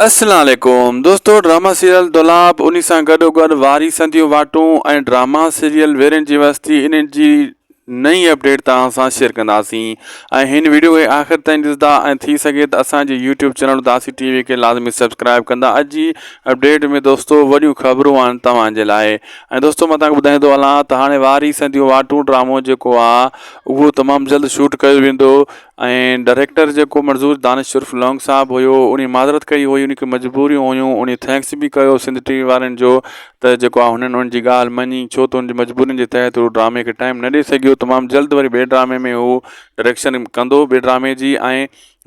السلام عليڪم دوستو ڊراما سيريل دولاب انهي سان گڏو گڏ واري سنديون واٽون ۽ ڊراما سيريل ويرين جي وستي انهن جي نئين اپڊيٽ توهان سان شيئر ڪنداسين ۽ هن ويڊيو کي آخر تائين ڏسدا ۽ ٿي سگهي ته اسان جي يوٽيوب چينل داسي ٽي وي کي لازمي سبسڪرائب ڪندا اڄ جي اپڊيٽ ۾ دوستو وڏيون خبرون آهن توهان جي لاء ۽ دوستو مان توهان ٻڌائيندو هلان ته هاڻي واري سنديون واٽون ڊرامو جيڪو آهي اهو تمام جلد شوٽ ڪيو ويندو ۽ ڊريڪٽر جيڪو مڙزور دانش عرف لونگ صاحب هيو انهي معذرت ڪئي هئي انهي کي مجبوريون هيون انهي ٿينڪس به ڪيو سنڌ ٽي وي وارن جو ته جيڪو آ هنن ان جي ڳالهه مڃي ڇو ته ان جي مجبورين جي تحت هو ڊرامي کي ٽائيم نه ڏئي سگهيو تمام جلد وري ٻي ڊرامي ۾ هو ڊريڪشن ڪندو ٻي ڊرامي جي ۽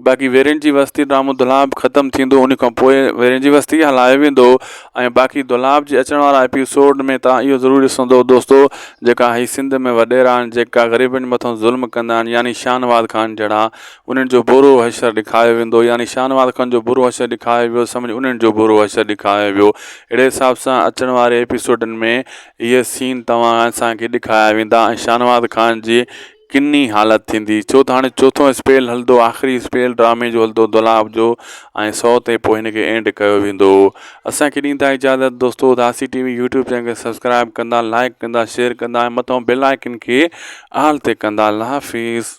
باقي ويرين جي وستي ڊرامو دولهاب ختم ٿيندو انهي کان پوء ويرين جي وستي هلايو ويندو ۽ باقي دولاب جي اچڻ وارا ايپي سوڊ ۾ توهان اهو ضرور ڏسندو دوستو جيڪا هي سنڌ ۾ وڏيرا آهن جيڪا غريبن مٿو ظلم ڪندا آهن يعني شاهنواز خان جهڙا انهن جو برو حشر ڏيکايو ويندو يعني شاهنواز خان جو برو حشر ڏيکايو ويو سمجهه انهن جو برو حشر ڏيکايو ويو اهڙي حساب سان اچڻ واري ايپي سوڊن ۾ اهي سين توهان اسان کي ڏيکايا ويندا ۽ شاهنواز خان جي ڪن ئي حالت ٿيندي ڇو ته هاڻي چوٿون اسپيل هلندو آخري اسپيل ڊرامي جو هلندو دولاب جو ۽ سو تي پوء هن کي اينڊ ڪيو ويندو اسانکي ڏيندا اجازت دوستو داسي ٽي وي يوٽيوب چينل کي سبسڪرائب ڪندا لائڪ ڪندا شيئر ڪندا ۽ مٿون بيل آئيڪن کي آل تي ڪندا الله حافظ